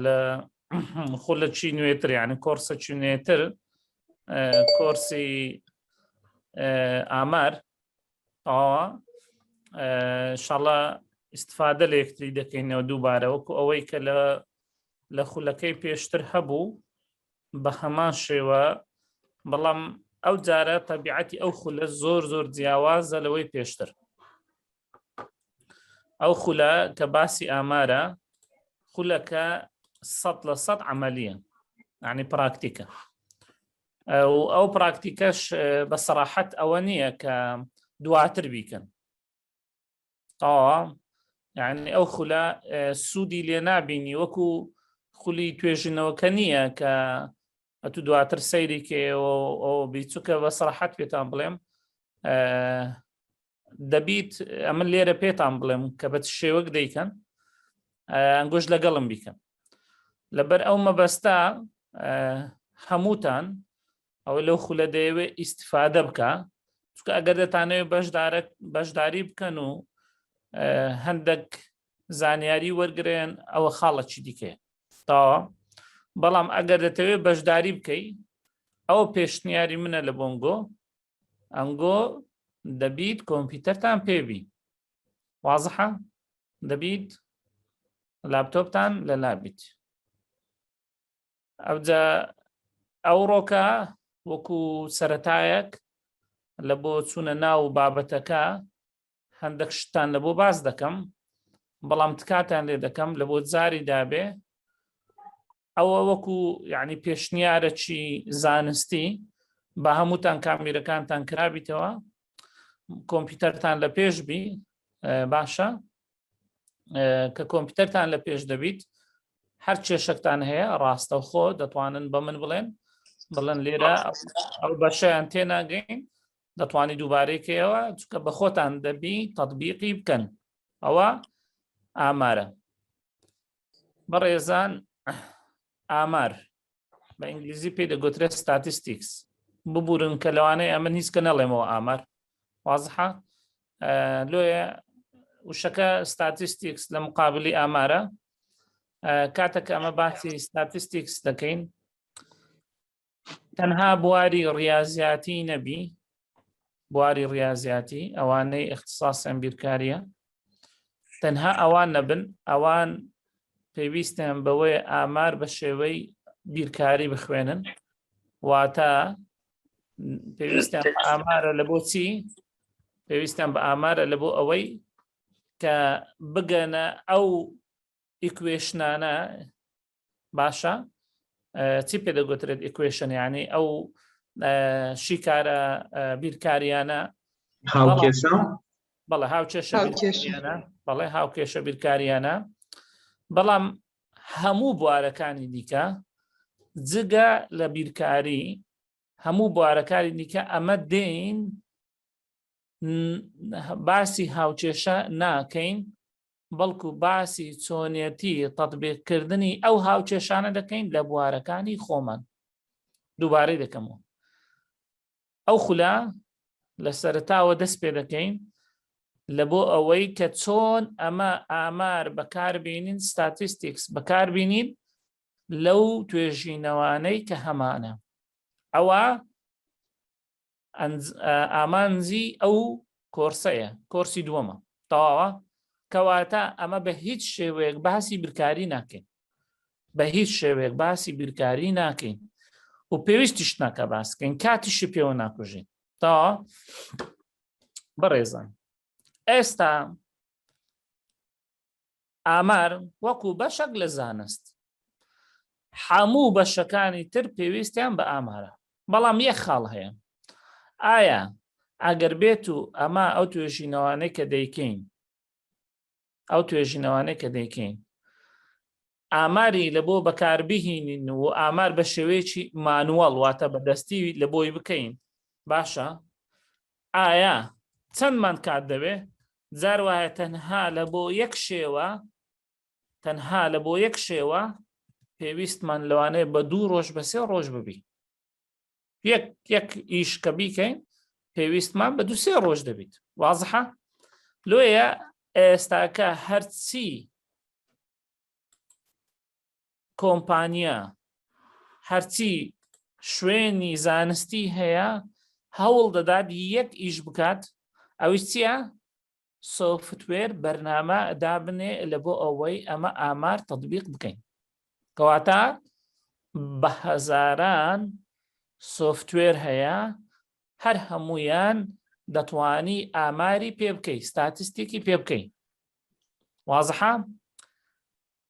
لە خۆ لە چی نوێتر یعنی کۆرسە چی نوێتر کۆرسی ئامار ئاوا شڵە استفادە لە یەکتری دەکەینەوە دووبارە وەکو ئەوەی کە لە لە خولەکەی پێشتر هەبوو بە هەمان شێوە بەڵام ئەو جارە تەبیعەتی ئەو خولە زۆر زۆر جیاوازە لەوەی پێشتر ئەو خولە کە باسی ئامارە خولەکە سەد لە سەد عملیە عنی پراکتیکە ئەو پراکتیکەش بە سەراحەت ئەوە نییە کە دواتر بیکەن ئەوە یعنی ئەو خولە سوودی لێ نابینی وەکو خولی توێژینەوەکە نییە کە ئەتو دواتر سەیری کێەوە ئەو بیچووکە بە سەراحەت پێتان بڵێم دەبیت ئەمن لێرە پێتان بڵێم کە بە شێوەک دەیکەن ئەنگۆش لەگەڵم بیکەن لەبەر ئەو مەبەستا هەمووتان ئەو لەو خولە دەیەوێ ئیسیفادە بکە چکە ئەگەر دەتانەوێت بەشدارە بەشداری بکەن و هەندێک زانیاری وەرگێن ئەوە خاڵەکی دیکەیە تا بەڵام ئەگەر دەتەوێت بەشداری بکەی ئەو پێشنیاری منە لە بۆنگۆ ئەنگۆ دەبیت کۆمپیوتەرتان پێبی وازحە دەبیت لاپتۆپتان لە لابیت ئەوجا ئەو ڕۆکە وەکو سەتایەک لە بۆ چوونە ناو بابەتەکە هەندەک شتتان لەبۆ باس دەکەم بەڵام تکاتان لێ دەکەم لە بۆ جاری دابێ ئەوە وەکو یعنی پێشنیارەکی زانستی بە هەمووتان کامیرەکانتان کرابیتەوە کۆمپیوتەرتان لە پێش بی باشە کە کۆمپیوتەرتان لە پێش دەبیت هەر کێشەکتان هەیە ڕاستەوخۆ دەتوانن بە من بڵێن بڵێن لێرە ئەو بەشیان تێناگەین دەتوانانی دووبارەیکەیەوە چکە بە خۆتان دەبی تەطببیقی بکەن ئەوە ئامارە بەڕێزان ئامار بە ئینگلیزی پێ دەگوترێت ستاتستیکس ببورن کە لەوانەیە ئەمە هیچ کە نەڵێمەوە ئامار وازحە لۆیە وشەکە ستاتستیکس لە مقابلی ئامارە کاتەکە ئەمە باسی ستاتستیکس دەکەین تەنها بواری ڕاضیاتی نەبی بواری ڕاضیاتی ئەوانەی اختصاصیان بیرکاریە تەنها ئەوان نەبن ئەوان پێویستیان بەوەی ئامار بە شێوەی بیرکاری بخوێنن واتە پێویستیان ئامارە لە بۆچی پێویستیان بە ئامارە لە بۆ ئەوەی کە بگەنە ئەو ئیکوێشنانە باشە چی پێ دەگوترێت ئیکوێشن یعنی ئەو شیکارە بیرکاریانە هاوکێشە بەڵێ هاوکێشە بەڵێ هاوکێشە بیرکاریانە بەڵام هەموو بوارەکانی دیکە جگە لە بیرکاری هەموو بوارەکانی دیکە ئەمە دێین باسی هاوکێشە ناکەین بەڵکو باسی چۆنێتی تەتبیقکردنی ئەو هاوکێشانە دەکەین لە بوارەکانی خۆمان دووبارەی دەکەمەوە ئەو خولە لە سەرتاوە دەست پێ دەکەین لە بۆ ئەوەی کە چۆن ئەمە ئامار بەکاربیێنین ستاتیستیکس بەکاربیێنین لەو توێژینەوانەی کە هەمانە ئەوە ئامانجی ئەو کۆرسەیە کۆرسی دووەمە تەواوە کەواتە ئەمە بە هیچ شێوەیەک باسی برکاری ناکەین بە هیچ شێوەیەک باسی بیرکاری ناکەین و پێویستیش ناکە باسکەین کاتیشی پێوە ناکوژین تا بەڕێزان ئێستا ئامار وەکو بەشەک لە زانست حەموو بەشەکانی تر پێویستیان بە ئامارە بەڵام یەک خاڵ هەیە ئایا ئەگەر بێت و ئەمە ئەو توێژینەوانەی کە دەیکەین ئەو توێژینەوانەی کە دەیکەین ئاماری لە بۆ بەکاربهینین و ئامار بە شێوەیەکی مانوەڵ واتە بەدەستی لە بۆی بکەین باشە ئایا چەندمان کات دەوێ؟ جار وایە تەنها لە بۆ یەک شێوە تەنها لە بۆ یەک شێوە پێویستمان لەوانەیە بە دوو ڕۆژ بە سێ ڕۆژ ببی یەک یەک ئیش کە بیکەین پێویستمان بە دو سێ ڕۆژ دەبیت وازحە لۆیە ئێستاکە هەرچی کۆمپانیا هەرچی شوێنی زانستی هەیە هەوڵ دەدات یەک ئیش بکات ئەوش چییە؟ سۆفتوێر بەرنامە دابنێ لە بۆ ئەوەی ئەمە ئامار تطببیق بکەین کەواتە بە هەزاران سۆفتوێر هەیە هەر هەمویان دەتوانی ئاماری پێ بکەی ستاتستێکی پێ بکەین وازحام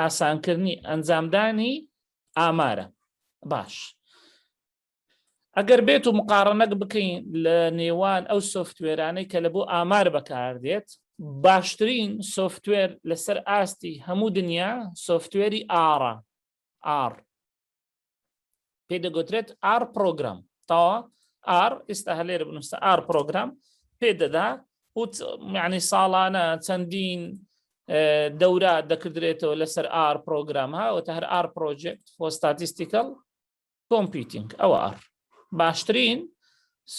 ئاسانکردنی ئەنجامدانی ئامارە باش ئەگەر بێت و مقاڕنەک بکەین لە نێوان ئەو سوفتوێرانەی کە لە بۆ ئامار بەکاردێت باشترین سوفتوێر لەسەر ئاستی هەموو دنیا سوفتوێری ئارا ئار پێ دەگوترێت ئار پرۆگرام تاوە ئار ئێستا هەلێر بنووسە ئار پرۆگرام پێ دەدا وت معنی ساڵانە چەندین دەورە دەکردرێتەوە لەسەر ئار پرۆگرام ها وتە هەر ئار پرۆژێکت فۆستاتیستیکەڵ کۆمپیتنگ ئەوە ئار باشترین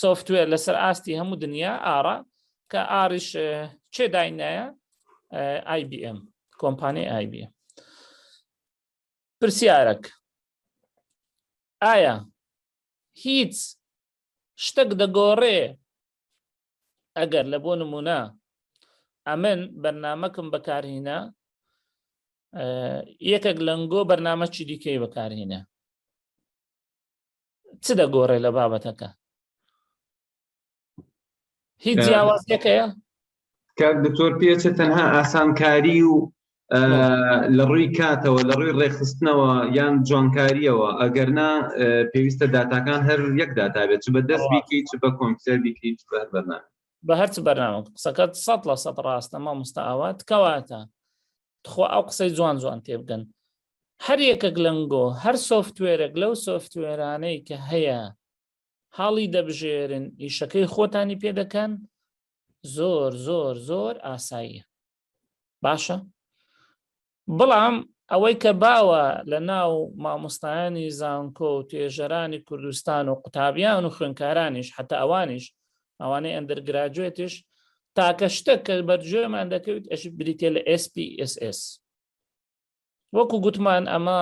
سوفتوێر لەسەر ئاستی هەموو دنیا ئارا کە ئاریش چێ داینایە IBM کۆمپانیای IBM پرسیارەک، ئایا هیچ شتەک دەگۆڕێ ئەگەر لە بۆ نمونە ئەمن بەرنمەکم بەکارهینە یەکێک لەنگۆ بەرنمەکی دیکەی بەکارهینە چ دەگۆڕێ لە بابەتەکە هیچ جیاوازیەکە کاک دکتۆر پێچە تەنها ئاسانکاری و لە ڕووی کاتەوە لە ڕووی ڕێخستنەوە یان جوانکاریەوە ئەگەرنا پێویستە داتاکان هەر یەک داتابێت چ بە دەست بیکی چ بە کۆمپیوتەر بیکری بەر بەرنا بە هەرچ بەرنامە قسەکەت سە لە سە ڕاستە ما مستاوات کەواتە تخوا ئەو قسەی جوان جوان تێبگەن هەر یەکەک لەنگۆ هەر سوفتوێرەك لەو سوفتوێرانەی کە هەیە هەڵی دەبژێرن ئیشەکەی خۆتانی پێ دەکەن زۆر زۆر زۆر ئاساییە باشە بەڵام ئەوەی کە باوە لە ناو مامۆستایانی زانکۆ و توێژەرانی کوردستان و قوتابیان و خوێنکارانیش حتا ئەوانیش ئەوانەی ئەندەرگراجوێتیش تاکە شتە کە بەرجێمان دەکەویت ئەش بریتە لە SPSS وەکو گوتمان ئەمە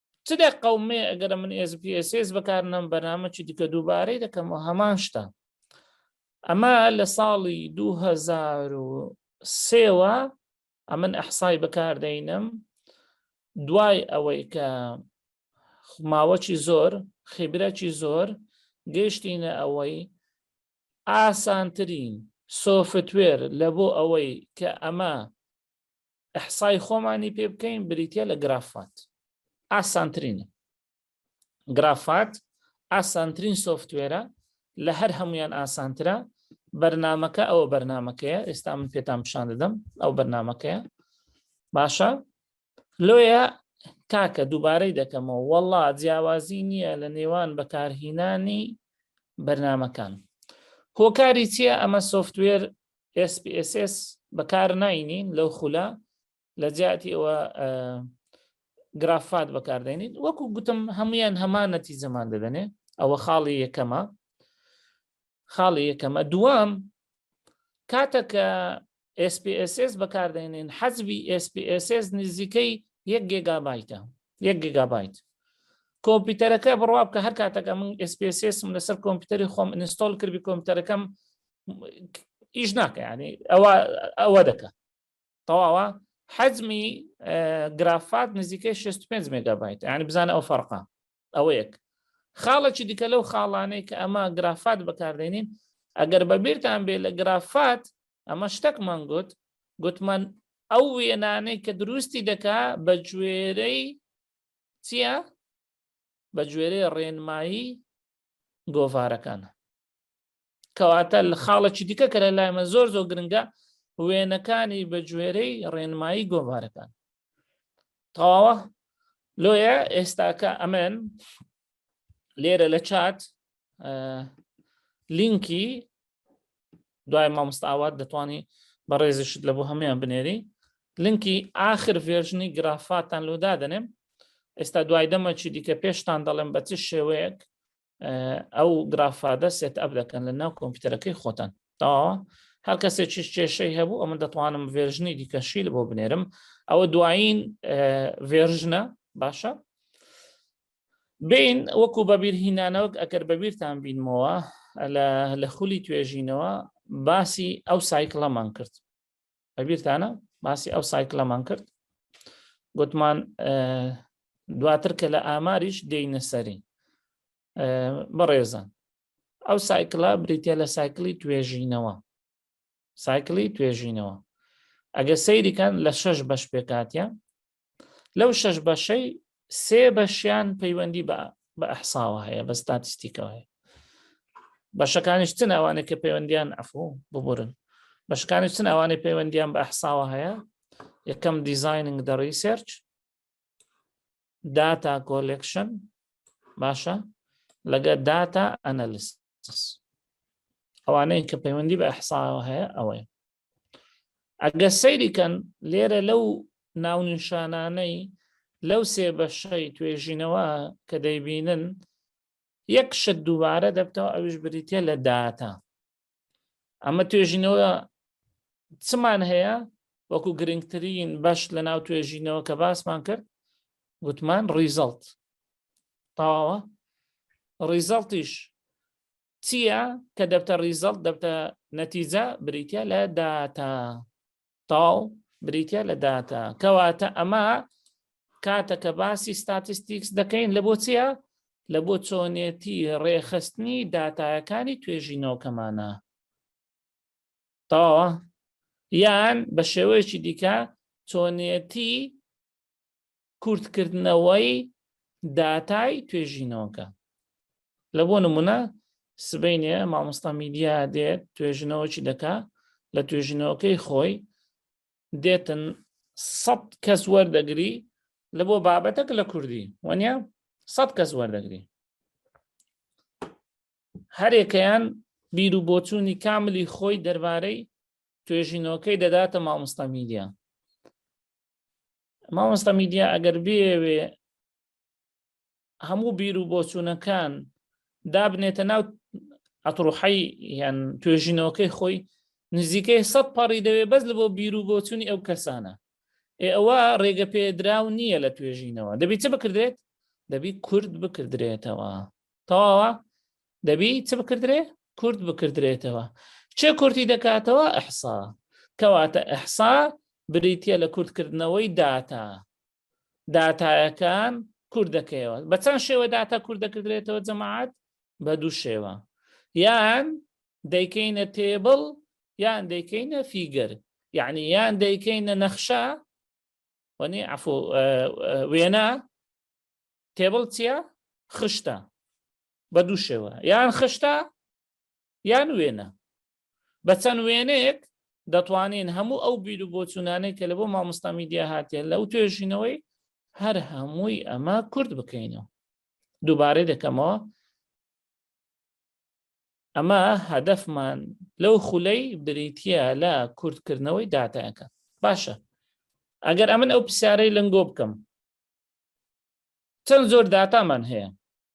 چ دە قەومێ ئەگەرە من SPSS بەکار نەم بەنامەکی دیکە دووبارەی دەکەمەوە هەمان شتە ئەمە لە ساڵی 2023ەوە ئەمن ئەحسای بەکاردەینم دوای ئەوەی کە ماوەکی زۆر خیبرەکی زۆر گەشتینە ئەوەی ئاسانترین سۆفتوێر لە بۆ ئەوەی کە ئەمە ئیحسای خۆمانی پێ بکەین بریتە لە گرافات ئاسانترینە گرافات ئاسانترین سوفتوێرە لە هەر هەمویان ئاسانترە بەرنمەکە ئەوە بەرنمەکەیە ئێستا من پێتان پیشان دەدەم ئەو بەرنمەکەیە باشە لۆیە کاکە دووبارەی دەکەمەوە وەڵا جیاوازی نییە لە نێوان بەکارهینانی بەرنمەکان هۆکاری چییە ئەمە سوفتوێر SPSS بەکار ناینین لەو خولە لە جیاتی ئەوە گرافات بەکاردێنین وەکو گوتم هەمویان هەمان نەتی زەمان دەدەنێ ئەوە خاڵی یەکەمە خاڵی یەکەمە دوام کاتەکە SPSS بەکاردێنین حەزبی SPSS نزیکەی یەک گێگابایتە یەک گێگابایت کۆمپیوتەرەکە بڕوا بکە هەر کاتەکە من SPSSم لەسەر کۆمپیوتەری خۆم ئینستۆل کردی کۆمپیوتەرەکەم ئیش ناکە ینی ئەوە ئەوە دەکە تەواوە حەزمی گرافات نزیکەی 65 مگابیت ینی بزانە ئەو فەرقا ئەوە یەک خاڵێکی دیکە لەو خاڵانەی کە ئەمە گرافات بەکاردێنین ئەگەر بەبییران بێ لە گرافات ئەمە شتەکمان گوت گوتمان ئەو وێنانەی کە دروستی دەکا بە گوێرەی چییە؟ بە گوێرەی ڕێنمایی گۆڤارەکانە کەواتە لە خاڵێکی دیکە کە لە لایمە زۆر زۆر گرنگە وێنەکانی بە جوێرەی ڕێنمایی گۆڤارەکان تەواوە لۆیە ئێستاکە ئەمن لێرە لە چات لینکی دوای مامۆستاوات دەتوانی بە ڕێزیشت لە بۆ هەمویان بنێری لینکی آخر ڤێژنی گرافاتان لۆ دادەنێم ئێستا دوای دەمەکی دیکە پێشتان دەڵێم بە چ شێوەیەک ئەو گرافادە سێت ئەپ دەکەن لە ناو کۆمپیوتەرەکەی خۆتان تاوە هەر کەسێ چش کێشەی هەبوو ئەمە دەتوانم ڤێژنی دیکەشیل بۆ بنێرم ئەوە دوایین ڤێژنە باشە بین وەکو بەبییر هینانەوەک ئەگەر بەبییرتان بینمەوە لە خولی توێژینەوە باسی ئەو سایکڵەمان کرد ئەبیرتانە باسی ئەو سایکلەمان کرد گوتمان دواتر کە لە ئاماریش دێینە سەری بەڕێزان ئەو سایکلا بریتە لە سایکلی توێژینەوە سایکلی توێژینەوە ئەگە سەیریکان لە شەش بەش پێکاتە لەو شەش بەشەی سێ بەشیان پەیوەندی بە بە ئەحساوە هەیە بە ستاتیستیکەوە هەیە بەشەکانیش چن ئەوانێک کە پەیوەندیان ئەفۆ ببورن بەشکانی چن ئەوانەی پەیوەندیان بە ئەحساوە هەیە یەکەم دیزیننگ دە ریسێرچ داتا کۆلکشن باشە لەگە داتا ئەنەلیس ئەوانەیە کە پەیوەندی بە ئەحساوە هەیە ئەوەیە ئەگە سەیریکەن لێرە لەو ناونیشانانەی لەو سێ بەشەی توێژینەوە کە دەیبینن یەک شت دووبارە دەبتەوە ئەوش بریتە لە داتا ئەمە توێژینەوە چمان هەیە وەکو گرنگترین بەش لە ناو توێژینەوە کە باسمان کرد گوتمان ڕیزەڵت تەواوە ڕیزەڵتیش چییە کە دەبتە ریزەڵت دەبتە نەتیجە بریتە لە داتا تاو بریتە لە داتا کەواتە ئەمە کاتەکە باسی ستاتستیکس دەکەین لە بۆ چییە لە بۆ چۆنێتی ڕێخستنی داتایەکانی توێژینەوەکەمانە تەواوە یان بە شێوەیەکی دیکە چۆنێتی کورتکردنەوەی داتای توێژینەوەکە لە بۆ نمونە سبینێ مامۆستا میدیا دێت توێژنەوەکی دەکا لە توێژینەوەکەی خۆی دێتن سەد کەس وەردەگری لە بۆ بابەتەک لە کوردی وەنیا سەد کەس وەردەگری هەرێکەیان بیر و بۆچوونی کاملی خۆی دەربارەی توێژینەوەکەی دەداتە مامۆستا میدیا مامۆستا میدیا ئەگەر بێوێ هەموو بیر و بۆچوونەکان دابنێتە ناو ئەتڕوحی یان توێژینەوەکەی خۆی نزیکەی سە پەڕی دەوێ بەس لە بۆ بیر و بۆچوونی ئەو کەسانە ئێ ئەوە ڕێگە پێدراو نییە لە توێژینەوە دەبیت چ بکردێت دەبی کورد بکردرێتەوە تەواوە دەبی چ بکردرێ کورت بکردرێتەوە چێ کورتی دەکاتەوە ئەحسا کەواتە ئەحسا بریتە لە کورتکردنەوەی داتا داتایەکان کورد دەکەیەوە بە چەند شێوە داتا کورد دەکردرێتەوە جەماعات بە دوو شێوە یان دەیکەینە تێبڵ یان دەیکەینە فیگەر یعنی یان دەیکەینە نەخشە وەنی عفو وێنە تێبڵ چییە خشتە بە دوو شێوە یان خشتا یان وێنە بە چەند وێنەیەک دەتوانین هەموو ئەو بیر و بۆچوونانەی کە لە بۆ مامۆستا میدیا هاتێن لەو توێژینەوەی هەر هەمووی ئەمە کورد بکەینەوە دووبارەی دەکەمەوە ئەمە هەدەفمان لەو خولەی بریتە لە کورتکردنەوەی داتایەکە باشە ئەگەر ئەمن ئەو پرسیارەی لەنگۆ بکەم چەند زۆر داتامان هەیە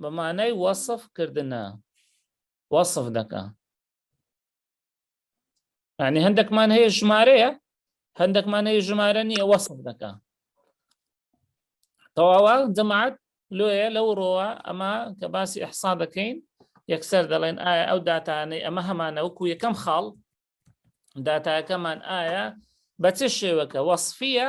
بە مانای وەسف کردنە وەسف دەکە ینی هەندێکمان هەیە ژمارەیە هەندێکمان هەیە ژمارە نییە وەسف دەکە تەواوە جەماعات لۆیە لەو ڕۆوە ئەمە کە باسی ئەحسا دەکەین یەکسەر دەڵێن ئایا ئەو داتانەی ئەمە هەمانە وەکو یەکەم خاڵ داتاکەمان ئایا بە چ شێوەکە وەصفە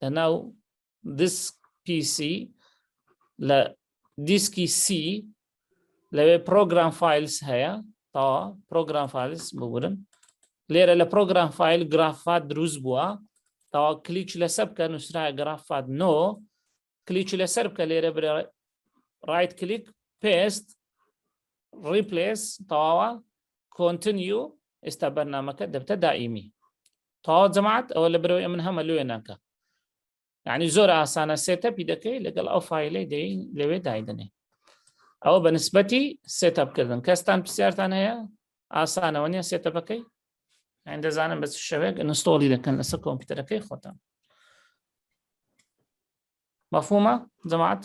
لە ناو دیسک پیسی لە دیسکی سی لەوێ پرۆگرام فیلس هەیە تا پرۆگرام فیلس ببورن لێرە لە پرۆگرام فیل گرافات دروست بووە تا کلیچ لەسەر بکە نووسرا گرافات نۆ کلیچ لەسەر بکە لێرە برێ ڕایت کلیک پێست ڕیپلس تەواوە کۆنتنیو ئێستا بەرنمەکە دەبتە دائیمی تەواو جەماعەت ئەوە لە برەوەی ئەمن هەمە لێ ناکە یعنی زۆر ئاسانە سێتەپی دەکەی لەگەڵ ئەو فیلەی دەی لەوێ دایدنێ ئەوە بە نسبەتی سێتەپکردن کەستان پرسیارتان هەیە ئاسانەوە نیە سێتەپەکەی ئەین دەزانم بە شەوێک نستۆڵی دەکەن لەسەر کۆمپیوتەرەکەی خۆتان مەفهومە جەماعەت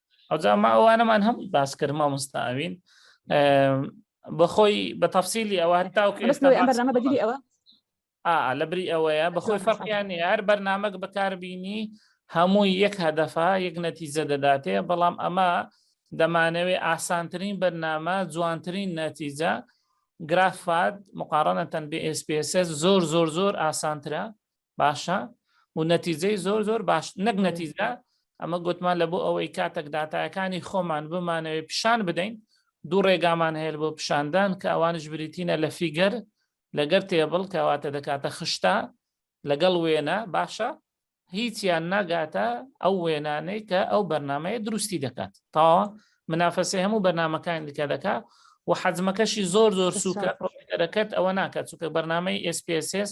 ئەوجا ما ئەوانەمان هەمووی باس کرد مامۆستا ئەوین بەخۆی بە تەفسیلی ئەوە هەتاوکە ئێستامە بەدیری ئەوە لە بری ئەوەیە بەخۆی فەرقیانی هەر بەرنمەک بەکاربینی هەمووی یەک هەدەفە یەک نەتیزە دەداتێ بەڵام ئەمە دەمانەوێ ئاسانترین بەرنامە جوانترین نەتیجە گرافات مقارنەتەن بێ SPSS زۆر زۆر زۆر ئاسانترە باشە و نەتیجەی زۆر زۆر باش نەک نەتیجە ئەمە گوتمان لە بۆ ئەوەی کاتەک دااتایەکانی خۆمان بمانەوەی پیشان بدەین دوو ڕێگامان هەیە بۆ پیشاندان کە ئەوانش بریتینە لە فیگەر لەگەر تێبڵ کەواتە دەکاتە خشتا لەگەڵ وێنە باشە هیچیان ناگاتە ئەو وێنانەی کە ئەو بەرنمەیە دروستی دەکات تاوە منافەسی هەموو بەرنمەکان دیکە دەکات و حەزمەکەشی زۆر زۆر سوکە دەکات ئەوە ناکات چونکە بەرنمەی SPSS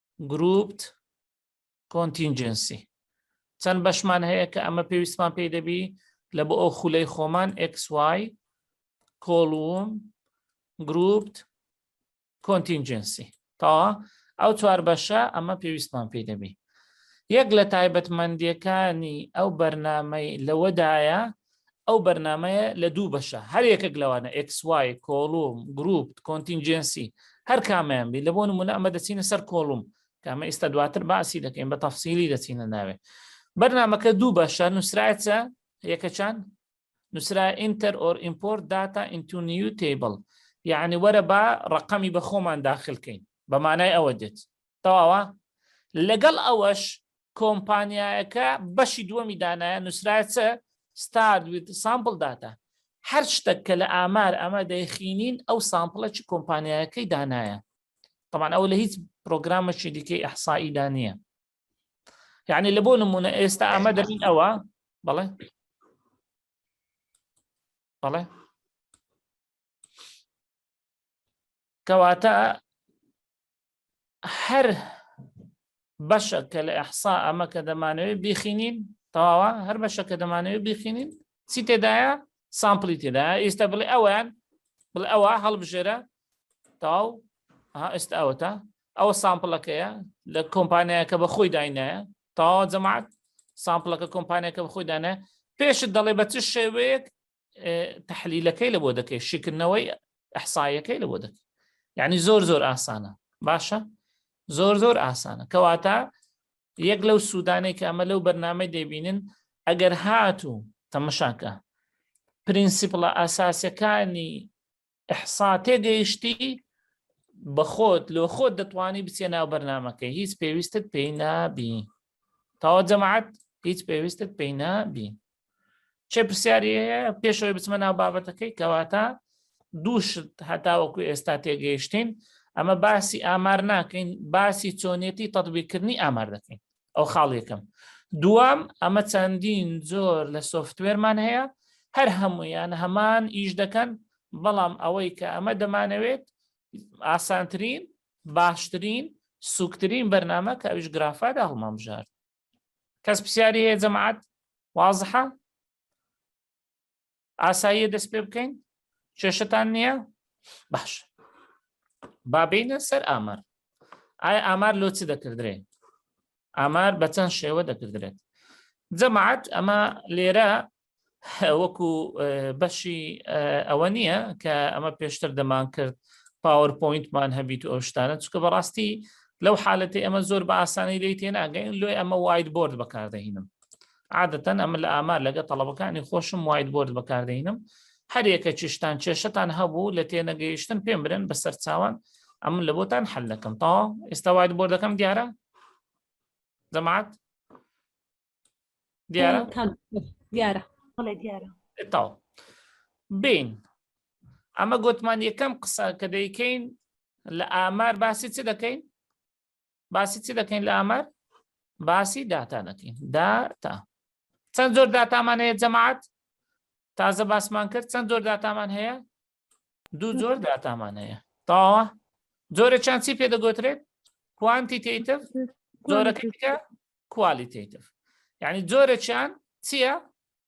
گروپت کۆنتینجنسی چەند بەشمان هەیە کە ئەمە پێویستمان پێی دەبی لە بۆ ئەو خولەی خۆمان XY کۆڵوم گروپت کۆنتینجنسی تاوا ئەو چوار بەشە ئەمە پێویستمان پێی دەبی یەک لە تایبەتمەندیەکانی ئەو بەرنمەی لەوەدایە ئەو بەرنمەیە لە دوو بەشە هەر یەکەک لەوانە ئەکسوای کۆڵوم گروپ کۆنتینجنسی هەر کامیان بی لە بۆ نمونە ئەمە دەچینە سەر کۆڵوم کامە ئیستا دواتر باسی دەکەین بە تەفسیلی دەچینە ناوێ بەرنمەکە دوو بەشە نووسراچە یەکەچان نووسرا ئینتەر ئۆر ئیمپۆرت داتا ئینتونیو تیبل یعنی وەرە با ڕقەمی بە خۆمان داخلکەین بەمانای ئەوە دێت تەواوە لەگەڵ ئەوەش کۆمپانیایەکە بەشی دووەمی دانایە نووسرایە چە ستارد ویت سامپل داتا هەر شتێک کە لە ئامار ئەمە دەیخینین ئەو سامپلە چ کۆمپانیایەکەی دانایە طبعا ئەو لە هیچ پرۆگرامەکی دیکەی ئەحسایی دانە یعنی لە بۆ نمونە ئێستا ئەمە دەبین ئەوە بەڵێ بەڵێ کەواتە هەر بەشە کە لە ئەحسا ئەمە کە دەمانەوەی بیخینین تەواوە هەر بەشە کە دەمانەوەی بیخینین چی تێدایە سامپلی تێدا ئێستا بڵێ ئەویان بڵێ ئەوە هەڵبژێرە تاو ئێستا ئەوەتا ئەوە سامپلەکەیە لە کۆمپانیایەکە بە خۆی داینایە تاوا جەماعات سامپلەکە کۆمپانیەکە بە خۆی دانە پێشت دەڵێ بە چ شێوەیەک تحلیلەکەی لە بۆ دەکەی شکردنەوەی ئەحسایەکەی لە بۆ دەکەی یعنی زۆر زۆر ئاسانە باشە زۆر زۆر ئاسانە کەواتە یەک لەو سوودانێک کە ئەمە لەو بەرنامە دەبینن ئەگەر هاتوو تەمەشاکە پرینسیپڵە ئاساسەکانی ئحسا تێگەیشتی بەخۆت لۆ خۆت دەتوانی بچێ ناو بەرنمەکەی هیچ پێویستت پێی نابی تاوە جەماعات هیچ پێویستت پێی نابی چێ پرسیاری هەیە پێشەوەی بچمە ناو بابەتەکەی کەواتە دووشت هەتاوەکو ئێستا تێگەیشتین ئەمە باسی ئامار ناکەین باسی چۆنێتی تەطببیکردنی ئامار دەکەین ئەو خاڵ یەکەم دوام ئەمە چەندین زۆر لە سوفتوێرمان هەیە هەر هەمویان هەمان ئیش دەکەن بەڵام ئەوەی کە ئەمە دەمانەوێت ئاسانترین باشترین سوکترین بەرنامە کە ئەوش گرافادا هەڵمامژار کەس پرسیاری هەیە جەماعات وازحە ئاساییە دەست پێ بکەین کێشتان نییە باش بابینە سەر ئامار ئایا ئامار لۆ چ دەکردرێ ئامار بە چەند شێوە دەکردرێت جەماعات ئەمە لێرە وەکو بەشی ئەوە نییە کە ئەمە پێشتر دەمان کرد پاوەرپۆینتمان هەبیت و ئەو شتانە چکە بەڕاستی لەو حالەتی ئەمە زۆر بە ئاسانی لی تێناگەین لۆی ئەمە وایت بۆرد بەکاردەهینم عادەتەن ئەمە لە ئامار لەگە تەڵەبەکانی خۆشم وایت بۆرد بەکاردەینم هەرێکە چشتان کێشتان هەبوو لە تێنەگەیشتن پێم برن بە سەر چاوان ئەم لە بۆتان حل دەکەم تا ئێستا وایت بۆردەکەم دیارە دەمات دیارە دیارە دیارە تا بین ئەمە گوتمان یەکەم قسە کە دەیکەین لە ئامار باسی چ دەکەین باسی چی دەکەین لە ئامار باسی داتا دەکەین داتا چەند زۆر داتامان هەیە جەماعات تازە باسمان کرد چەند زۆر داتامان هەیە دوو زۆر داتامان هەیە تاوە زۆرە چند چی پێ دەگوترێت کوانتیتیتف زۆرەکە کوالیتیتف یعنی زۆرە چیان چییە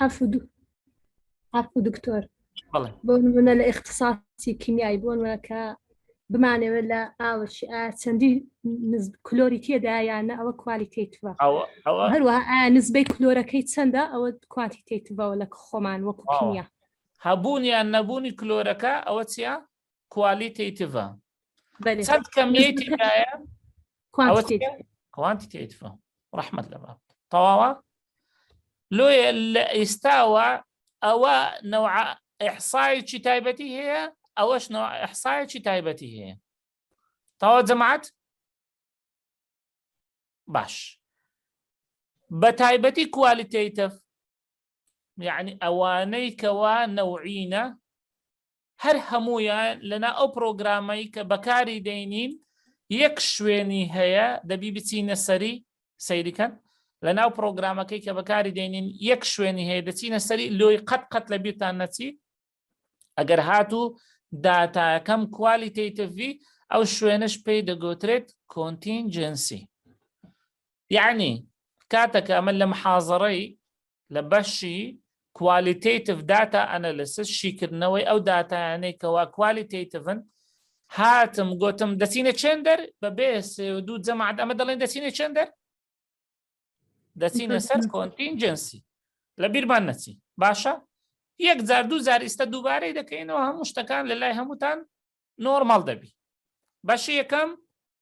حەفودو حەفو دکتۆر بەڵێ بۆ نمونە لە اختصاصی کیمیایی بۆ نمونە کە بمانەوێت لە ئاوەشی ئا چەندی نز- کلۆری تێدا یانە ئەوە کوالیتیتوە ئەوە ئەوە هەروەها ئا نزبەی کلۆرەکەی چەندە ئەوە کوانتیتیتڤەوە لە خۆمان وەکو واوە. کیمیا هەبوون یان نەبوونی کلۆرەکە ئەوە چیە کوالیتیتڤە چەند کەمیەتی دایە کوانتیتیتڤە ڕحمد لە باب تەواوە لۆیە لە ئێستاوە ئەوە نەوع ئەحسایکی تایبەتی هەیە ئەوەش نەوە ئەحسایکی تایبەتی هەیە تەوا جەماعات باش بە تایبەتی کوالیتیتف یعنی ئەوانەی کەوا نەوعینە هەر هەموویان لەنا ئەو پرۆگرامەی کە بەکاری دەینین یەک شوێنی هەیە دەبی بچینە سەری سەیریکەن لە ناو پرۆگرامەکەی کە بەکاری دێنین یەک شوێنی هەیە دەچینە سەری لۆی قەت قەت لە بیرتان نەچی ئەگەر هاتوو داتاکەم کوالیتیتڤی ئەو شوێنش پێی دەگوترێت کۆنتینجنسی یعنی کاتەکە ئەمە لە محازڕەی لە بەشی کوالیتیتف داتا ئەنەلسس شیکردنەوەی ئەو دااتانەی کەوا کوالیتیتفن هاتم گوتم دەچینە چێندەر بە بێ دوو جەماعات ئەمە دەڵێن دەچینە چێندەر دەچینە سەر کۆنتینجنسی لە بیرمان نەچی باشە یەک جار دوو جار ئیستا دووبارەی دەکەینەوە هەموو شتەکان لە لای هەمووتان نۆرمال دەبی بەشی یەکەم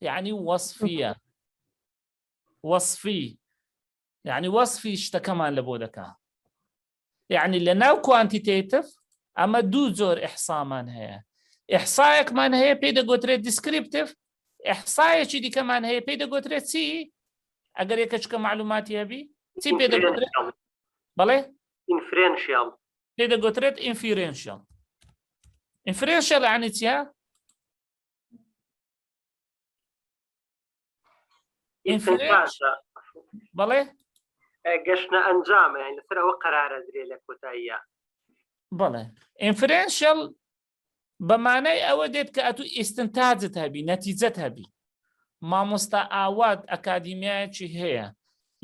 یعنی وەصفیە وەصفی یعنی وەصفی شتەکەمان لە بۆ دەکا یعنی لە ناو کوانتیتیتف ئەمە دوو جۆر ئەحسامان هەیە ئەحسایەکمان هەیە پێی دەگوترێت دیسکریپتف ئەحسایەکی دیکەمان هەیە پێی دەگوترێت چی ئەگەر یەکە چکە معلوماتی هەبی چی پێ دەگوترێت بەڵێ ئینفرێنشیال پێ دەگوترێت ئینفیرێنشیال ئینفرێنشیال عنی چیە بەڵێ گەشتە ئەنجامە لەسەر ئەوە قەرارە درێ لە کۆتاییە بەڵێ ئینفرنشل بەمانای ئەوە دێت کە ئەتو ئیستنتاجت هەبی نەتیجەت هەبی مامۆستا ئاوات ئەکادیمیایەکی هەیە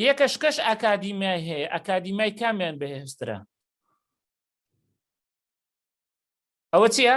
یەکەش کەش ئەکادیمیای هەیە ئەکادیمیای کامیان بەهێسترە ئەوە چییە؟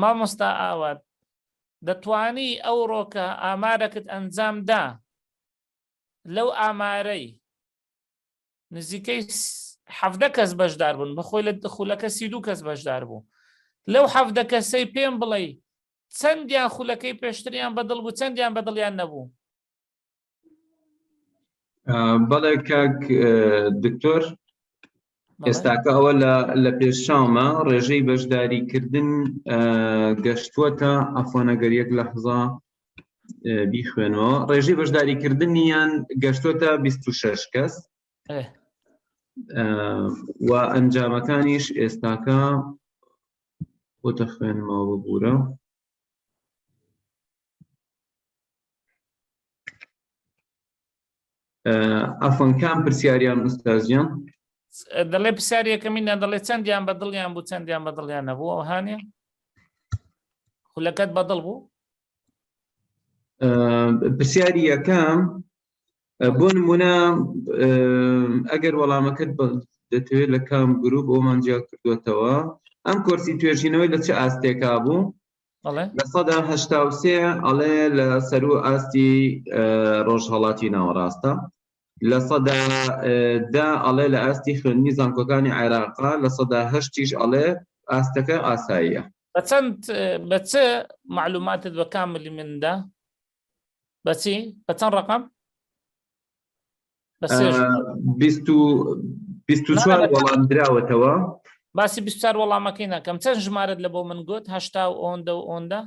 مامۆستا ئاوات دەتوانی ئەوڕۆکە ئامارەکت ئەنجام دا لەو ئامارەی نزیکەی حەفدە کەس بەشدار بوون بەخۆی لە خولەکە سی دوو کەس بەشدار بوو لەو حەفدە کەسەی پێم بڵێ چەندیان خولەکەی پێشتریان بەدڵ بوو چەندیان بەدڵیان نەبوو بەڵێ کاک دکتۆر ئێستاکە ئەوە لە پێشچاومە ڕێژەی بەشداریکردن گەشتووەتە ئەفۆنەگەر یەک لە حزا بیخوێنەوە ڕێژەی بەشداریکردنیان گەشتووەتە 26 کەس و ئەنجامەکانیش ئێستاکە بۆتە خوێنمەوە ببوورە ئەفۆن کام پرسیاریان ئوستازیان دەڵێ پرسیارەکەمینیان دەڵێ چەندیان بە دڵیان بوو چەندیان بە دڵیان نەبوو ئەو هاانێ خولەکەت بە دڵ بوو پرسیاری یەکەم بۆ نمونە ئەگەر وەڵامەکەت دەتەوێت لە کام گروپ ئەومان جیا کردوێتەوە ئەم کۆرسی توێژینەوەی لە چه ئاستێکا بوو لە سەدا هەشتا و سێ ئەڵێ لە سەرو ئاستی ڕۆژهڵاتی ناوەڕاستە لە سەدا دا ئەڵێ لە ئاستی خوێنی زانکۆکانی عێراقا لە سەدا هەشتیش ئەڵێ ئاستەکە ئاساییە بە چەند بە چ معلوماتت بە کام ملی مندا بەچی بە چەند ڕقم چوار وەڵام دراوەتەوە باسی بیار وەڵامەکەی ناکەم چەند ژمارت لە بۆ من گوت هەشتا و ئۆندە و ئۆندە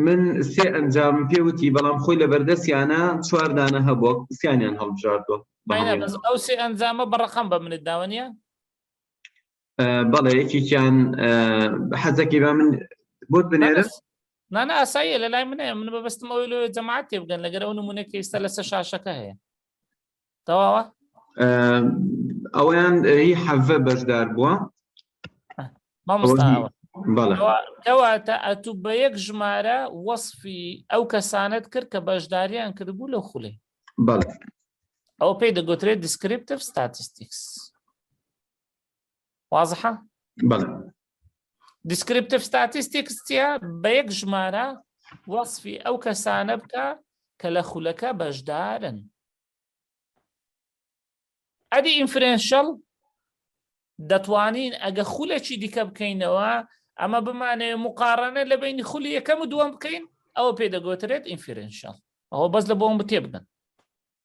من سێ ئەنجام پێوتی بەڵام خۆی لە بەردەستیانە چواردانە هەبوو سیانیان هەڵبژاردوە ئەو سێ ئەنجامە بەڕقم بە منت داوەنیە بەڵێ یەکێکیان حەزەکەی بە من بۆت بنێرم نانە ئاساییە لە لای منە من بەبستم ئەوی لۆ جەماعات تێ بگەن لەگەر ئەو نمونە کە ئێستا لەسە شاشەکە هەیە تەواوە ئەویان هی حەڤە بەشدار بووە کەواتە ئەتو بە یەک ژمارە وەصفی ئەو کەسانت کرد کە بەشداریان کردبوو لە خولێ ئەو پێی دەگوترێت دیسکریپتف ستاتستیکس وازحە بەڵێ دیسکریپتیف ستاتیستیکس چیە بە یەک ژمارە وەصفی ئەو کەسانە بکە کە لە خولەکە بەشدارن ئەدی ئینفرێنشەڵ دەتوانین ئەگە خولەکی دیکە بکەینەوە ئەمە بمانێ مقارنە لە بینی خولی یەکەم و دووەم بکەین ئەوە پێ دەگوترێت ئینفرێنشەڵ ئەوە بەس لە بۆم بتێبگەن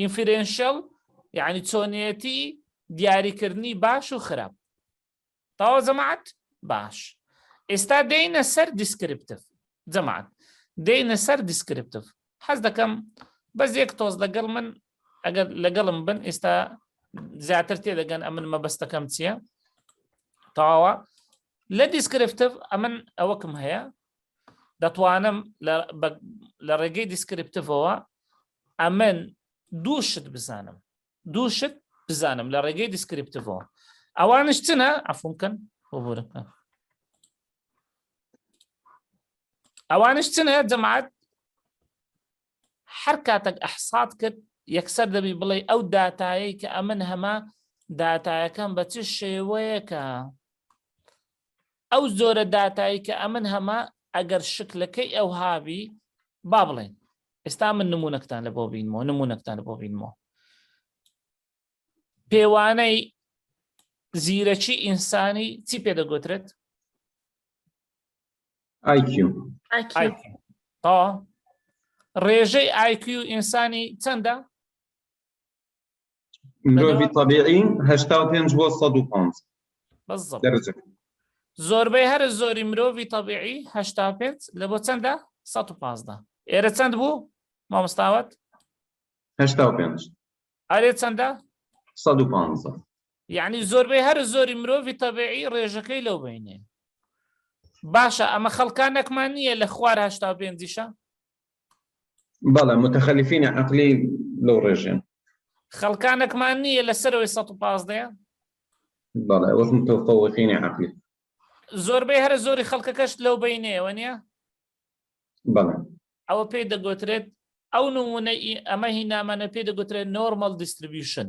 ئینفیرێنشەڵ یعنی چۆنیەتی دیاریکردنی باش و خراپ تاوە جەماعەت باش ئێستا دێنە سەر دیسکرپتف جەماعەت دێنە سەر دیسکرپتف حەز دەکەم بەس یەک تۆز لەگەڵ من ئەگەر لەگەڵم بن ئێستا زیاتر تێدەگەن ئەمن مەبەستەکەم چییە تاوە لە دیسکرپتف ئەمن ئەوەکم هەیە دەتوانم لە ڕێگەی دیسکرپتفەوە ئەمن دوو شت بزانم دوو شت بزانم لە ڕێگەی دیسکرپتەوە ئەوانش چنە ئەفم بکەن بۆبورەکە ئەوانش چنە جەماعات هەر کاتێک ئەحسات کرد یەکسەر دەبی بڵێ ئەو داتایەی کە ئەمن هەمە داتایەکەم بە چ شێوەیەکە ئەو زۆرە داتایی کە ئەمن هەمە ئەگەر شکلەکەی ئەو هاوی با بڵێن ئێستا من نمونونەکتان لە بۆ بینمەوە نمونونەکتان بۆ بینمەوە پێوانەی زیرەکی ئینسانی چی پێ دەگوترێت ڕێژەی ئایکیو ئینسانی چەندە مرۆڤی طبیعی هەشتا و پێنج بۆ سەد و پێنج بالضبط دەرجە زۆربەی هەر زۆری مرۆڤی طبیعی هەشتا و پێنج لە بۆ چەندە سەد و پازدە ئێرە چەند بوو مامۆستاوت هەشتا و پێنج ئەرێ چەندە سەد و پانزە یعنی زۆربەی هەر زۆری مرۆڤی طبیعی ڕێژەکەی لەو بینێ باشە ئەمە خەڵکانێکمان نییە لە خوار هەشتا و پێنجیشە بەڵێ متخەلیفینە عقلی لەو ڕێژێن خەڵکانەکمان نییە لە سەرەوەی 115 بەڵێ وەک متەفەوەقینە عقلی زۆربەی هەرە زۆری خەڵکەکەشت لەو بینێەوە نیە بەڵێ ئەوە پێی دەگوترێت ئەو نمونە ئەمە هی نامانە پێ دەگوترێت نۆرمەل دیستریبیوشن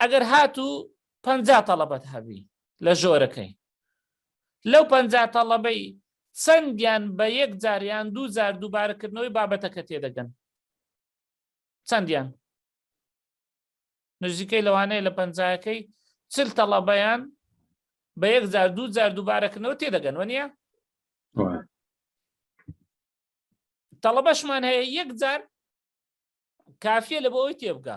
ئەگەر هاتوو پەنجا تەڵەبەت هەبی لە ژۆرەکەی لەو پەنجا تەڵەبەی چەندیان بە یەک جاریان دوو جار دووبارەکردنەوەی بابەتەکە تێدەگەن چەندیان نزیکەی لەوانەیە لە پەنجایەکەی چل تەڵەبەیان بە یەک جار دوو جار دووبارەکردنەوە تێدەگەن وە نیە تەڵەبەشمان هەیە یەک جار کافیە لە بۆ ئەوی تێبگە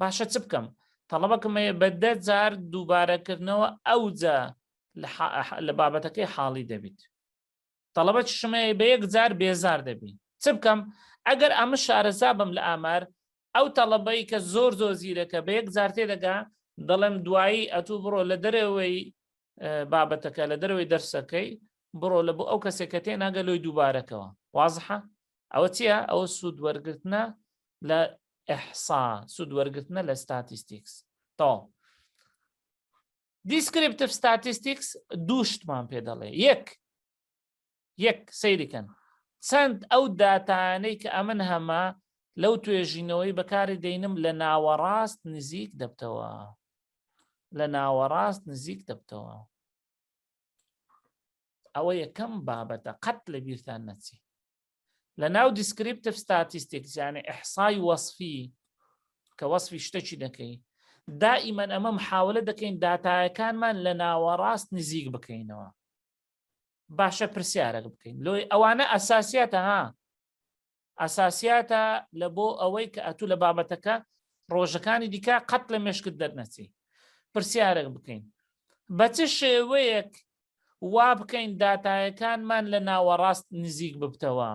باشە چ بکەم تەڵەبەکەم هەیە بە دە جار دووبارەکردنەوە ئەوجا لە بابەتەکەی حاڵی دەبیت تەڵەبە چشمەیە بە یەک جار بێزار دەبی چ بکەم ئەگەر ئەمە شارەزا بم لە ئامار ئەو تەڵەبەی کە زۆر زۆر زیرەکە بە یەک جار تێدەگا دەڵێم دوایی ئەتوو بڕۆ لە دەرەوەی بابەتەکە لە دەرەوەی دەرسەکەی بڕۆ لە بۆ ئەو کەسێک کە تێ ناگە لۆی دووبارەکەەوە وازحە ئەوە چییە ئەوە سوود وەرگرتنە لە احصا سود وەرگرتنە لە ستاتیستیکس تەواو دیسکریپتف ستاتیستیکس دوو شتمان پێ دەڵێ یەک یەک سەیریکەن چەند ئەو داتانەی کە ئەمن هەمە لەو توێژینەوەی بەکاری دەینم لە ناوەڕاست نزیک دەبتەوە لە ناوەڕاست نزیک دەبتەوە ئەوە یەکەم بابەتە قەت لە بیرتان نەچی لە ناو دیسکریپتف ستاتیستیکس یانە ئەحسای وەصفی کە وەصفی شتەکی دەکەی دائیمەن ئەمە محاولە دەکەین داتایەکانمان لە ناوەڕاست نزیک بکەینەوە باشە پرسیارەک بکەین لۆی ئەوانە ئەساسیاتە ها ئەساسیاتە لە بۆ ئەوەی کە ئەتوو لە بابەتەکە ڕۆژەکانی دیکە قەت لە مشکت دەرنەچی پرسیارێک بکەین بە چ شێوەیەک وابکەین داتایەکانمان لە ناوەڕاست نزیک ببتەوە.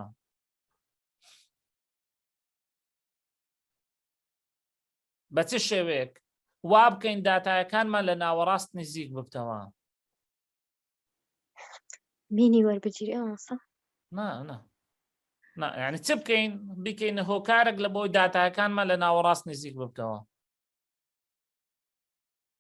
بە چ شێوەیەک وا بکەین داتایەکانمان لە ناوەڕاست نزیک ببتەوە مینی وەربگیری ئەوسا ینی چ بکەین بکەین هۆکارێک لە بۆی داتایەکانمان لە ناوەڕاست نزیک ببتەوە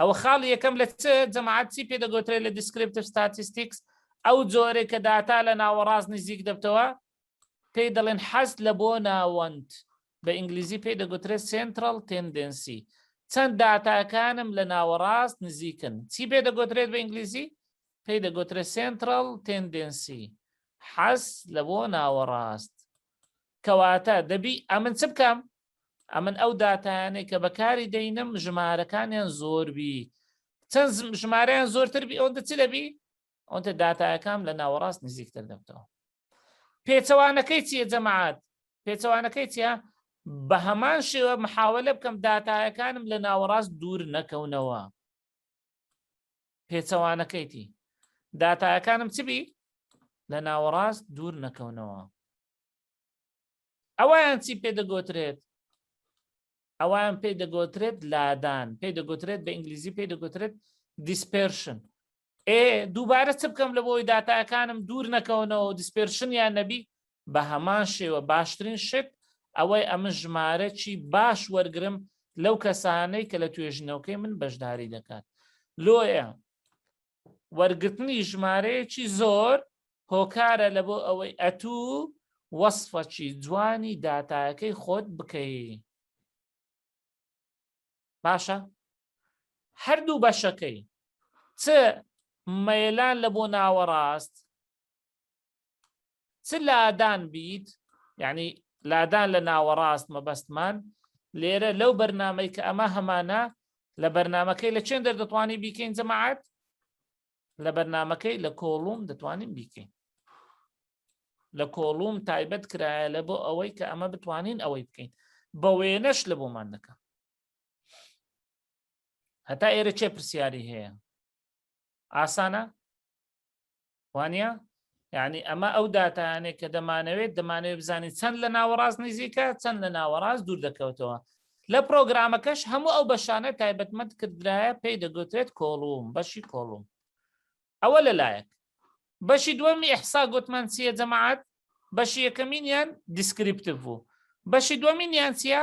ئەوە خاڵی یەکەم لە چ جەماعەت چی پێ دەگوترێت لە دیسکرپتر ستاتیستیکس ئەو جۆرێک کە داتا لە ناوەڕاست نزیک دەبتەوە پێی دەڵێن حەست لە بۆ ناوەند بە ئینگلیزی پێی دەگوترێت سنترال تندنسی چەند داتاکانم لە ناوەڕاست نزیکن چی پێ دەگوترێت بە ئینگلیزی پێی دەگوترێت سنترال تندنسی حەز لە بۆ ناوەڕاست کەواتە دەبی ئەمن چ بکەم ئەمن ئەو داتایانەی کە بەکاری دەینم ژمارەکانیان زۆربی چەند ژمارەیان زۆرتر بی ئەوەندە چ دەبی ئەوەندە داتایەکەم لە ناوەڕاست نزیکتر دەبتەوە پێچەوانەکەی چیە جەماعات پێچەوانەکەی چیە بە هەمان شێوە محاولە بکەم داتایەکانم لە ناوەڕاست دوور نەکەونەوە پێچەوانەکەیتی داتایەکانم چبی لە ناوەڕاست دوور نەکەونەوە ئەوەیان چی پێ دەگۆترێت ئەوان پێی دەگۆترێت لادان پێی دەگوترێت بە ئینگلیزی پێی دەگوترێت دیسپێرشن ئێ دووبارە چ بکەم لە بۆی داتاکانم دوور نەکەونەوە دیسپێرشن یان نەبی بە هەمان شێوە باشترین شت ئەوەی ئەمە ژمارەی باش وەرگرم لەو کەسانەی کە لە توێژینەوەکەی من بەشداری دەکات لۆیە وەرگرتنی ژمارەیەکی زۆر هۆکارە لە بۆ ئەوەی ئەتوو وەصفەکی جوانی داتایەکەی خۆت بکەی باشە هەردوو بەشەکەی چ مەلان لە بۆ ناوەڕاست چ لادان بیت یعنی لادان لە ناوەڕاست مەبەستمان لێرە لەو بەرنمەی کە ئەمە هەمانە لە بەرنمەکەی لە چێن دەردەتوانی بیکەین جەماعات لە بەرنمەکەی لە کۆڵوم دەتوانین بیکەین لە کۆڵوم تایبەت کرایە لە بۆ ئەوەی کە ئەمە بتوانین ئەوەی بکەین بە وێنەش لە بۆمان دەکە هەتا ئێرە چێ پرسیاری هەیە ئاسانە وانە یعنی ئەمە ئەو داتانێک کە دەمانەوێت دەمانەوێت بزانین چەند لە ناوەڕاست نزیکە چەند لە ناوەڕاست دوور دەکەوتەوە لە پرۆگرامەکەش هەموو ئەو بەشانە تایبەتمەند کردرایە پێی دەگوترێت کۆڵوم بەشی کۆڵوم ئەوە لەلایەک بەشی دووەمی ئەحسا گوتمان چییە جەماعات بەشی یەکەمینیان دیسکریپتیڤ بوو بەشی دووەمینیان چییە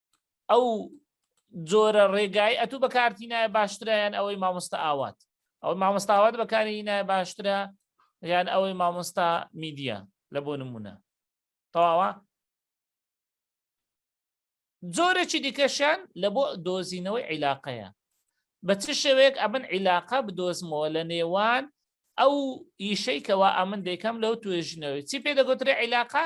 ئەو جۆرە ڕێگای ئەتو بە کارتی نایە باشترایان ئەوەی مامۆستا ئاوات ئەو مامۆستاوات بەکاری نایە باشترە یان ئەوەی مامۆستا میدیە لە بۆ نمونە تەواوە زۆرێکی دیکەشیان لە بۆ دۆزینەوەی عیلاقەیە بە چ شێوەیەک ئەمن عیلاقە بدۆزمەوە لە نێوان ئەو ئیشەی کەوا ئەمن دەیکەم لەو توێژنەوەی چی پێ دەگوترێ عیلاقە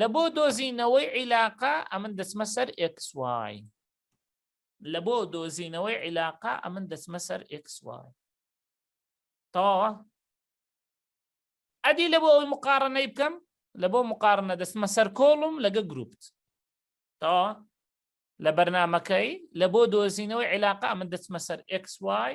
لە بۆ دۆزینەوەی عیلاقە ئەمن دەچمە سەر ئێکس وای لە بۆ دۆزینەوەی عیلاقە ئەمن دەچمە سەر ئێکس وای تەواوە ئەدی لە بۆ ئەوی مقارنەی بکەم لە بۆ مقارنە دەستمە سەر کۆڵم لەگە گروپت تەواوە لە بەرنمەکەی لە بۆ دۆزینەوەی عیلاقە ئەمن دەچمە سەر ئێکس وای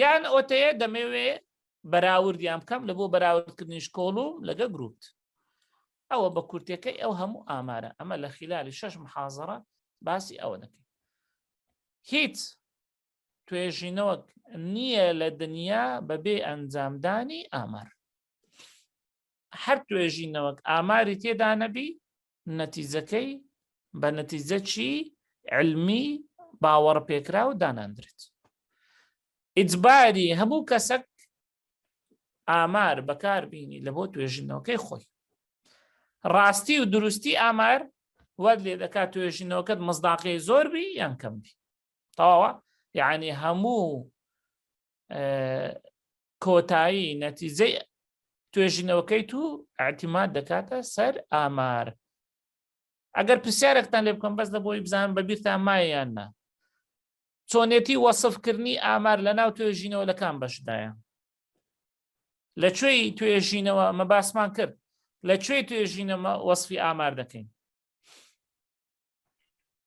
یان ئۆتەیە دەمەوێ بەراوردیان بکەم لە بۆ بەراوردکردنی شکۆڵوم لەگە گروپ ئەوە بە کورتەکەی ئەو هەموو ئامارە ئەمە لە خلالی شەش محازڕە باسی ئەوە دەکەین هیچ توێژینەوەک نییە لە دنیا بەبێ ئەنجامدانی ئامار هەر توێژینەوەک ئاماری تێدا نەبی نەتیجەکەی بە نەتیجەکی علمی باوەڕ پێکراو داناندرێت ئیجباری هەموو کەسەک ئامار بەکاربیینی لە بۆ توێژینەوەکەی خۆی ڕاستی و دروستی ئامار وەر لێ دەکات توێژینەوەکەت مزداقی زۆر بی یان کەم بی تەواوە یعنی هەموو کۆتایی نەتیجەی توێژینەوەکەی تو ئاعتیماد دەکاتە سەر ئامار ئەگەر پرسیارێکتان لێ بکەم بەس لە بۆی بزان بە بیرتان مایان نا چۆنێتی وەصفکردنی ئامار لە ناو توێژینەوە لەکان بەشدایە لە کوێی توێژینەوە ئەمە باسمان کرد لە کوێی توێژینەمە وەصفی ئامار دەکەین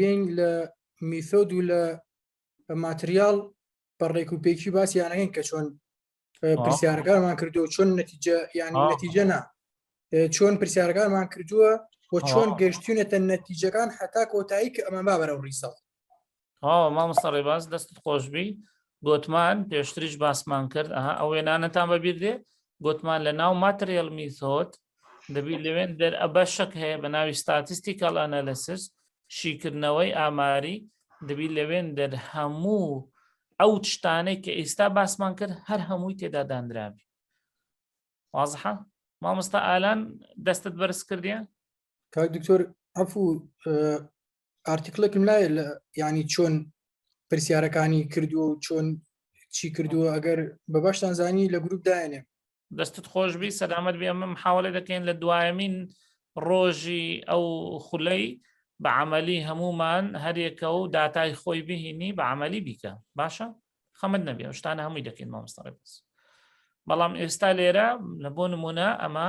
یین لە میثۆد و لە ماتریال بە ڕێک و پێکی باس یانەکەین کە چۆن پرسیارەکانمان کردو چۆن نەتیجە یان نەتیجە نا چۆن پرسیارەکانمان کردووە و چۆن گەشتونەتە نەتیجەکان حتا کۆتایی کە ئەمە با بەرەو ڕیسەڵ ئاو مامۆستا ڕێباز دەستت خۆشببی گوتمان پێشتریش باسمان کرد ئەها ئەو وێنانەتان بەبییر دێ گوتمان لە ناو ماتریل میثۆت دەبی لەوێن دەر ئەبە شک هەیە بە ناوی ستاتیستیکال ئەنەلسس شیکردنەوەی ئاماری دەبی لەوێن دەر هەموو ئەو شتانەی کە ئێستا باسمان کرد هەر هەمووی تێدا دانرابی وازحە مامۆستا ئالان دەستت بەرز کردیان کاک دکتۆر ئەفو ئارتیکلێکم لای لە ینی چۆن پرسیارەکانی کردووە و چۆن چی کردووە ئەگەر بە باشتان زانی لە گروپ داێنێ دەستت خۆشببی سەدامەت بێ ئەمە محاولە دەکەین لە دوایمین ڕۆژی ئەو خولەی بە عملی هەمومان هەرێکە و داتای خۆی بهینی بە عملی بیکە باشە خەمت نەبێ شتانە هەمووی دەکەین مامۆستاڕێ بەس بەڵام ئێستا لێرە لە بۆ نمونە ئەمە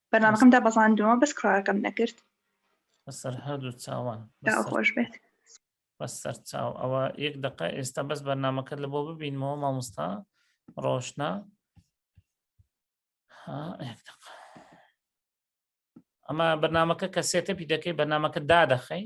بەرنامەکەم دابەزاندووە بەس کڕاکەم نەکرد بەسەر هەردوو چاوان خۆش بێت بەسەر چاو ئەوە یەک دقە ئێستا بەس بەرنمەکە لە بۆ ببینمەوە مامۆستا ڕۆشنا ئەمە بەرنمەکە کە سێتەپی دەکەی بەرنمەکە دادەخەی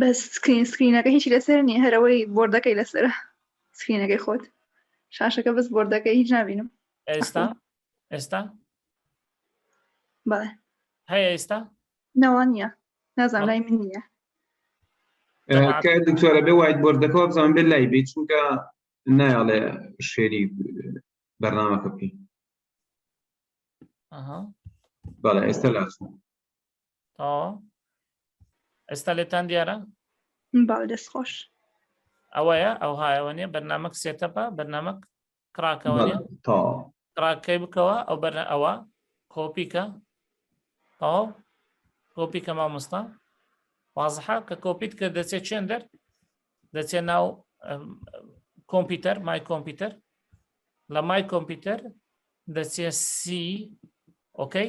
بەس سکرین سکرینەکە هیچی لەسەر نییە هەرەوەی بۆردەکەی لەسرە سکرینەکەی خۆت شاشەکە بەس بۆردەکەی هیچ نبینم ئێستا ئێستا بەڵێ هەیە ئێستا نەوە نیە نازان لای من نیە دکتۆرە بێ وایت بردەکەەوە بزان بێ لای بێ چونکە نایڵێ شێری بەرنامەکە بکەین بەڵێ ئێستا لاچوو ئێستا لێتان دیارە باو دەست خۆش ئەوەیە ئەو هایەوە نیە بەرنمەک سێتەپە بەرنمەک کراکەوە کراکەی بکەوە ئەو بەر ئەوە کۆپیکە ئەو کۆپی کە مامۆستا وازحا کە کۆپیت کە دەچێت چێن دەر دەچێت ناو کۆمپیوتەر مای کۆمپیوتەر لە مای کۆمپیوتەر دەچێت سی ئۆکەی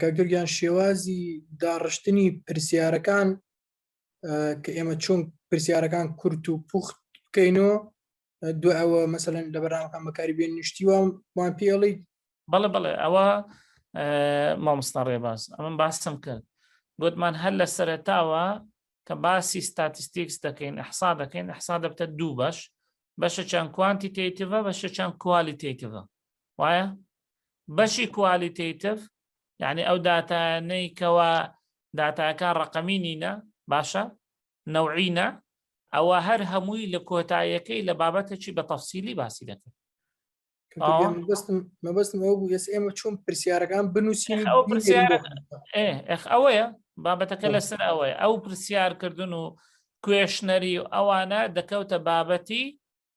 کاکتورگیان شێوازی داڕشتنی پرسیارەکان کە ئێمە چۆن پرسیارەکان کورت و پوخت بکەینەوە دو ئەوە مەسەن لە بەرامەکان بەکاری بێن نیشتی وام وان پێڵی بەڵێ بەڵێ ئەوە مامۆستا ڕێباز ئەمن باسم کرد گوتمان هەر لە سەرتاوە کە باسی ستاتستیکس دەکەین ئەحسا دەکەین ئەحسا دەبتە دوو بەش بەشە چەند کوانتیتیتیڤە بەشە چەند کوالیتیتیڤە وایە بەشی کوالیتیتف یعنی ئەو داتانەی کەوا داتاکان ڕقەمی نینە باشە نەوعینە ئەوە هەر هەمووی لە کۆتایەکەی لە بابەتەکی بە تەفسیلی باسی دەکەن مەبستم ئەو بوو ئێس ئێمە چۆن پرسیارەکان بنووسین ئەوەیە بابەتەکە لەسەر ئەوەیە ئەو پرسیارکردن و کوێشنەری و ئەوانە دەکەوتە بابەتی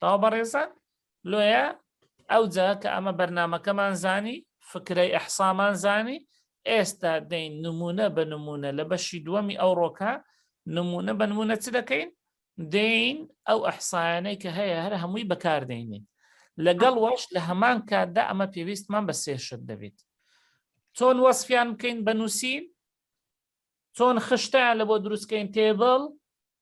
تاو بەڕێزان لۆیە ئەوجا کە ئەمە بەرنمەکەمان زانی فکرەی ئەحسامان زانی ئێستا دەین نمونە بە نمونە لە بەشی دووەمی ئەو ڕۆکە نمونە بە نمونە چ دەکەین دین ئەو ئەحسایانەی کە هەیە هەر هەمووی بەکاردێنین لەگەڵ وەش لە هەمان کاتدا ئەمە پێویستمان بە سێشت دەبێت چۆن وەسفیان بکەین بە نووسین چۆن خشتیان لە بۆ دروستکەین تێبڵ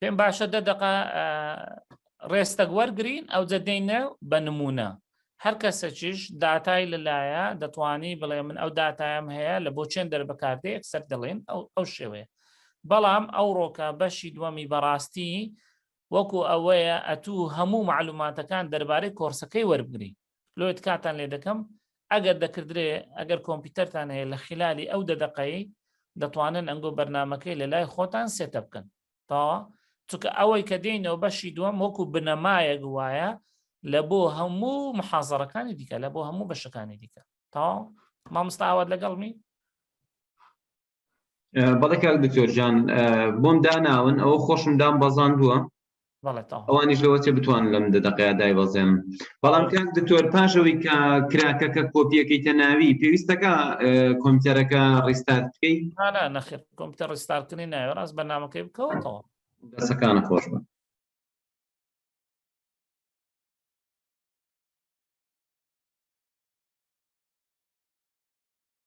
پێم باشە دە دقە ڕێستەک وەرگین ئەو جەدەینە بە نمونە هەر کەسەکیش داتای لەلایە دەتوانی بڵێ من ئەو داتایم هەیە لە بۆ چێن دەربکاردێ یەکسەر دەڵێن ئەو ئەو شێوەیە بەڵام ئەو ڕۆکە بەشی دووەمی بەڕاستی وەکو ئەوەیە ئەتوو هەموو معلوماتەکان دەربارەی کۆرسەکەی وەربگری لۆ تکاتان لێ دەکەم ئەگەر دەکردرێ ئەگەر کۆمپیوتەرتان هەیە لە خلالی ئەو دەدەقەی دەتوانن ئەنگۆ بەرنمەکەی لە لای خۆتان سێتە بکەن تاوە چونکە ئەوەی کە دێنەوە بەشی دووەم وەکو بنەمایەک وایە لە بۆ هەموو محازڕەکانی دیکە لە بۆ هەموو بەشەکانی دیکە تاو مامستاوات لەگەڵمی بەڵێ کاک دکتۆر جان بۆم داناون ئەوە خۆشم دام بەزان بووە ئەوانیش لەوە چێ بتوان لەم دەدەقەیە دای بەزێن بەڵام کاک دکتۆر پاشەوەی کە کراکەکە کۆپیەکەی تەناوی پێویستەکە کۆمپیوتەرەکە ڕیستارت بکەیت نەخێت کۆمپیوتەر ڕیستارکردنی ناوێ ڕاست بەنامەکەی بکەوەتەوە دەسەکانە خۆش بن